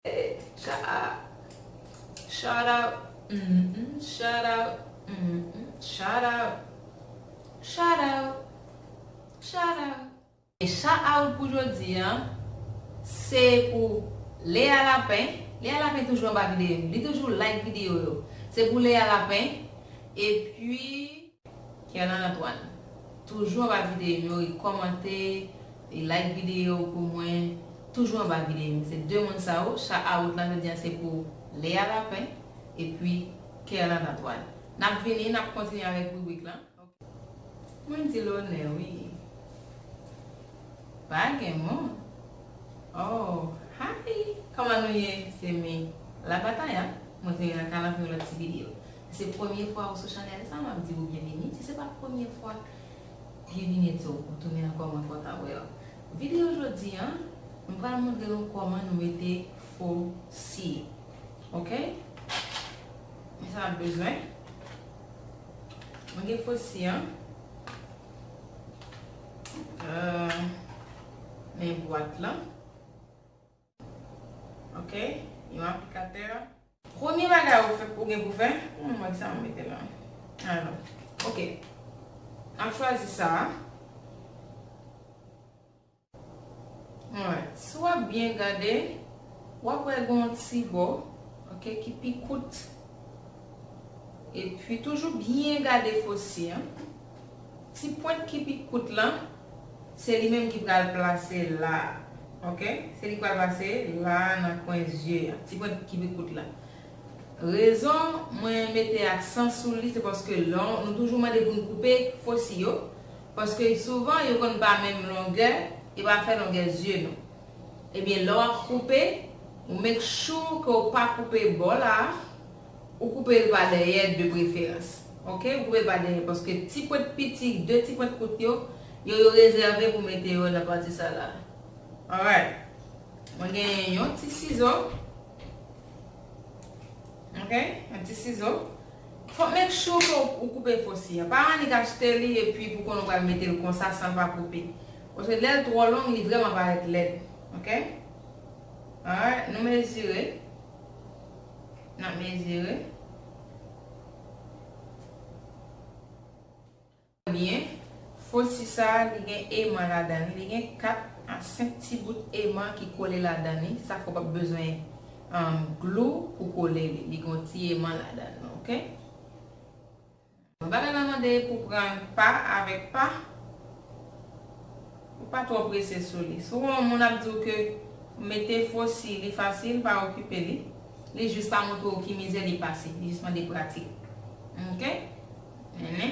Echaaw Shout out uhmm Shout out uhmm Shout out Shout out Shout out. E shout out pou jodi an se pou Lea Lapin Lea Lapin toujou anba videyo m li toujou like videyo yo se pou Lea Lapin epi. Kerlan Antoine toujou anba videyom yo li kòmante li like video pou mwen toujou anba videyom yo se 2 moun sa yo cha a wout lan jodi an se pou Lea Lapin epi Kerlan Antoine nap vini nap kontinye avèk ribrik lan ok mwen di lonè wi pa gen mo oh hi kòman nou ye se me la bataya mwen vini nan kalann pou yon lòt ti video. Se premye fwa ou sou chanèl sa map diw byenvini si se pa premye fwa byenvini tou ou tounen ankò mwen kontan wèw videyo jodi an m pral montre nou kòman nou mete fo si ok men sa nap bezwen mwen gen fo si an euh men bwat lan. Ok yon aplikatè. Premye bagay ou fè ou gen pou fè. Pou mwen sa mwen mete la. Alò. Ok. Nap chwazi sa a. Alright. Si w ap byen gade. W ap wè gen yon ti bò. Ok ki pi kout. Epi toujou byen gade fosye an. Ti pwent ki pi kout lan, se li menm ki pral plase la a. Ok. Se li ki pral plase la a nan kwen zye a. Ti pwent ki pi kout lan. Rezon mwen mete aksan sou li, se paske lè nou toujou mande pou nou koupe fosi yo, paske souvan yo konn pa menm longè, yo pa fè longè zye nou. Ebyen lè w ap koupe, ou make sure ke w pa koupe bò la a, Ou koupe l pa dèyè de preferans. Ok ou koupe l pa dèyè paske ti pwent piti de ti pwent kout yo yo yo rezève pou mete yo nan pati sa la alright mwen genyen yon ti sizo ok yon ti sizo fòk make sure ke ou koupe fosi an pa annik achte li epi pou konnen ou pral mete l konsa san l pa koupe paske lè l twò long li vrèman parèt lèd ok alright nou mezire. N ap mezire. Byen, foti sa a li gen eman ladan li. Li gen 4 a 5 ti bout eman ki kole ladan li. Sa fè w pap bezwen glou pou kole li. Li gen yon ti eman ladan li. Ok? Mwen pa ta nan mande pou pran l pa avèk pa, ou pa twò prese sou li. Si w wè yon moun ap di w ke mete fo si li fasil, pa okipe li. Li jis pa montre w ki mizè li pase, li jis mande pratik. Ok? Nene.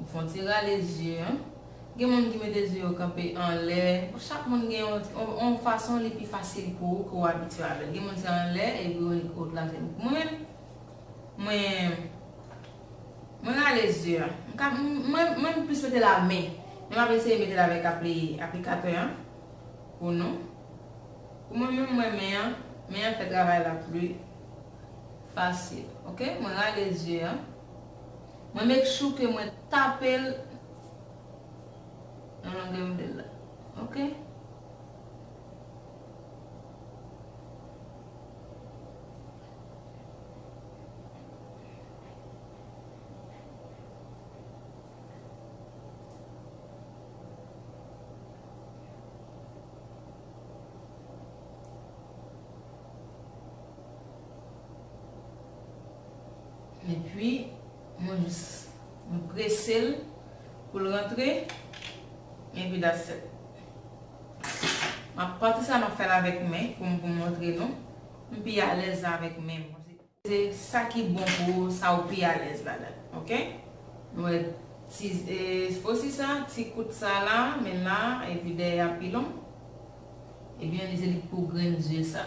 Ou fon ti rale zye an. Gen moun ki mete zye yo kanpe anlè. Bon chak moun gen yon fason li pi fasil pou ou ke ou abitye avè l. Gen moun se anlè epi ou t rale. Mwen menm, mwen rale zye an. Mwen m plis mete l a men. Men m ap eseye mete l avèk aplikatè an pou nou. Pou mwen menm mwen men an. Men an fè travay la pou li. Fasil ok mwen rale zye an mwen make sure ke mwen tapel nan longè m vlel la ok. Epi mwen jis mwen prese l pou l rantre epi that's it. Map pati sa map fè l avèk men pou m montre nou m pi alèz la avèk men m. Se sa ki bon pou ou sa ou pi alèz ladan ok. Nou wè ti fosi sa ti kout sa la men la epi dèyè a pi long. Ebyen li se li pou grenn zye sa.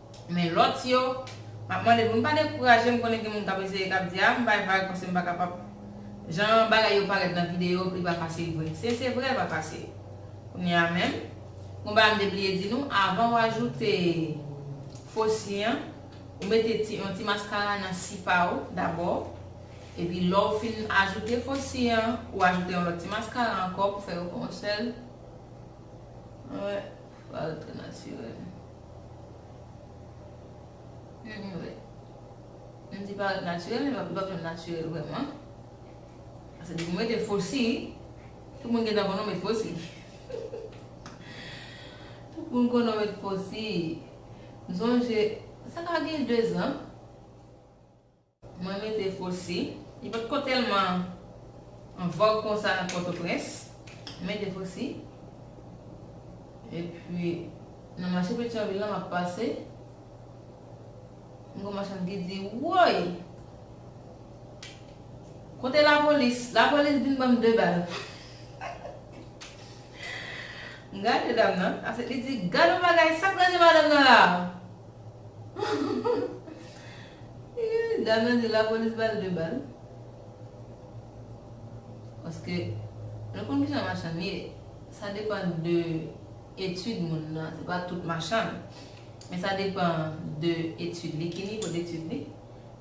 Men lòt yo, m ap mande pou nou pa dekouraje, m konnen gen moun k ap eseye k ap di a m bay vag paske m pa kapab jan bagay yo parèt nan videyo li pa fasil vre se se vre l pa fasil kounye a menm gon bagay m te bliye di nou avan w ajoute fo si an ou mete ti yon ti maskara nan si pa ou dabò epi lè w fin ajoute fo si an ou ajoute yon lòt ti maskara ankò pou fè yo fè yon sèl. Waww trè natirèl. Humm wi. M di paret natirèl men li pap janm natirèl vrèman. Sa di pou m mete fo si. Tout moun gen dan konnen w met fo si. Tout moun konnen w met fo si. M sonje sa ka gen 2 zan. Mwen rete Fosse. Li pa t ko tèlman an vòg konsa nan Pòtoprens. Mwen rete Fosse. Epi, nan mache Petyonvil la, m ap pase, m gwo machann ki di, Woy! Kote lapolis? Lapolis vin ban m de bal. M gade dam nan. Answit, li di, Gad yon bagay! Sa k ranje madanm nan la a? Ii dam nan di lapolis bal 2 bal paske nou konn kijan machann ye sa depan de etud moun nan se pa tout machann men sa depan de etud li ki nivo detud li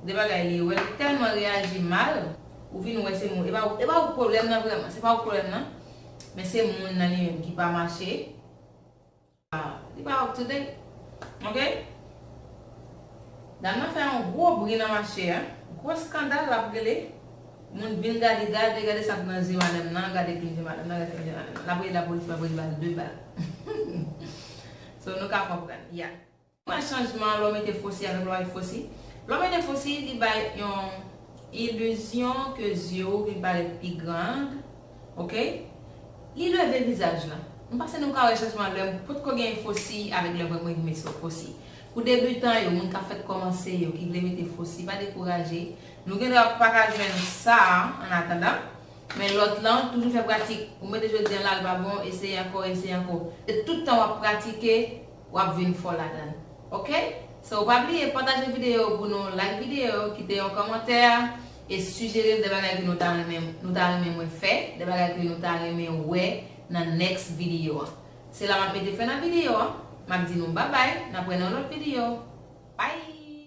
de bagay li wè li telman reyaji mal ou vin wè se moun e pa ou pwoblem nan vreman se pa ou pwoblem nan men se moun nan li menm ki pa mache. Li pa up to date ok. Dam nan fè yon gwo bri nan mache a, gwo skandal lap rele, moun vin gade, gade, gade sak nan zye madam nan, gade plim zye madam nan, gade plim zye madam nan. Lap rele lapolis, lapolis bal 2 bal. So nou ka konprann, yeah. Pwen chanjman Lò mete fosi avèk lwa Fosi Lò mete fosi li bay yon ilizyon ke zye ou vin parèt pi grand ok li leve vizaj lan m panse nou ka wè chanjman lè m potko gen fosi avèk lè m wè m met fosi pou debutan yo moun kap fèk kòmanse yo ki vle mete fosi pa dekouraje nou gen dwa paka jwenn sa an atandan men lòt lan toujou fè pratik ou mete jodi an la li pa bon eseye ankò eseye ankò se tout tan wap pratike wap vin fò ladann ok so pa bliye pataje video yo pou nou like video yo kite yon kòmantè e sijerem de bagay ke nou ta renmen nou ta renmen mwen fè de bagay ke nou ta renmen wè nan next video an se la map mete fen nan video an map di nou babay nap wè nan yon lòt video bye.